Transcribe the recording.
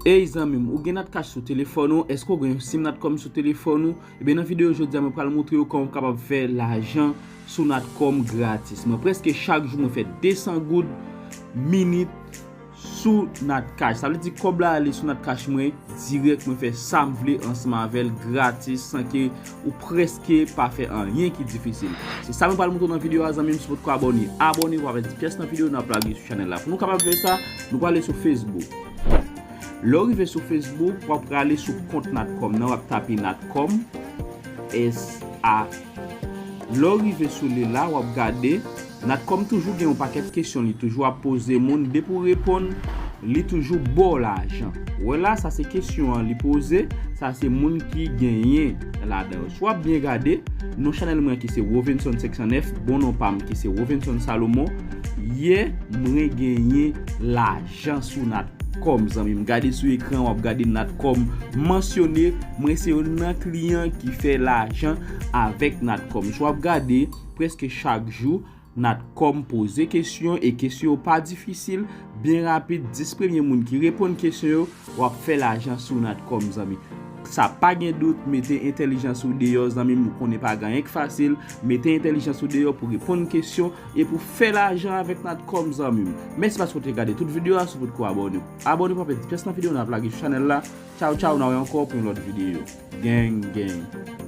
Ey zanmim ou gen natcash sou telefòn ou eske ou gen yon sim natcom sou telefòn ou ebyen nan video jodia mwen pral moutre ou kòman ou kapab fè lajan sou natcom gratis mwen preske chak jou mwen fè 200 goud minit sou natcash sa vle di kòb la ale sou natcash mwen dirèk mwen fè sam vle ansanm avèl gratis san ke Ou preske pa fè anyen ki difisil. Se sa nou pral moutre w nan video a zanmim si w potko abone abone epi apre ti pyès nan video nap lage sou chanèl la pou nou kapab fè sa nou pral ale sou Facebook lè w rive sou Facebook wap prale sou kont natcom nan wap tape natcom S A lè w rive sou li la wap gade. Natcom toujou gen yon pakèt kesyon li toujou ap poze moun depi ou reponn li toujou baw lajan wè la sa se kesyon an li poze sa se moun ki genyen ladan yo si wap byen gade non chanèl mwen ki se Rovenson 509 bon non pam ki se Rovenson Salomon yè mwen genyen lajan sou Natcom zanmim gade sou ekran wap gade Natcom mansyone mwen se yonn nan kliyan ki fè lajan avèk Natcom si wap gade. Preske chak jou, Natcom poze kesyon e kesyon yo pa difisil, byen rapid, 10 premye moun ki reponn kesyon yo, wap fè lajan sou Natcom zanmi. Sa pa gen dout, mete entèlijans ou deyò zanmim ou konnen pa gen anyen k fasil, mete entèlijans ou deyò pou reponn kesyon e pou fè lajan avèk Natcom zanmim. Mèsi paske ou te gade tout video a, si w potko abòne, abòne pa pèdi pyès nan video nou ap lage sou chanèl la, tchaw tchaw na wè ankò pou yon lòt video. Gang gang.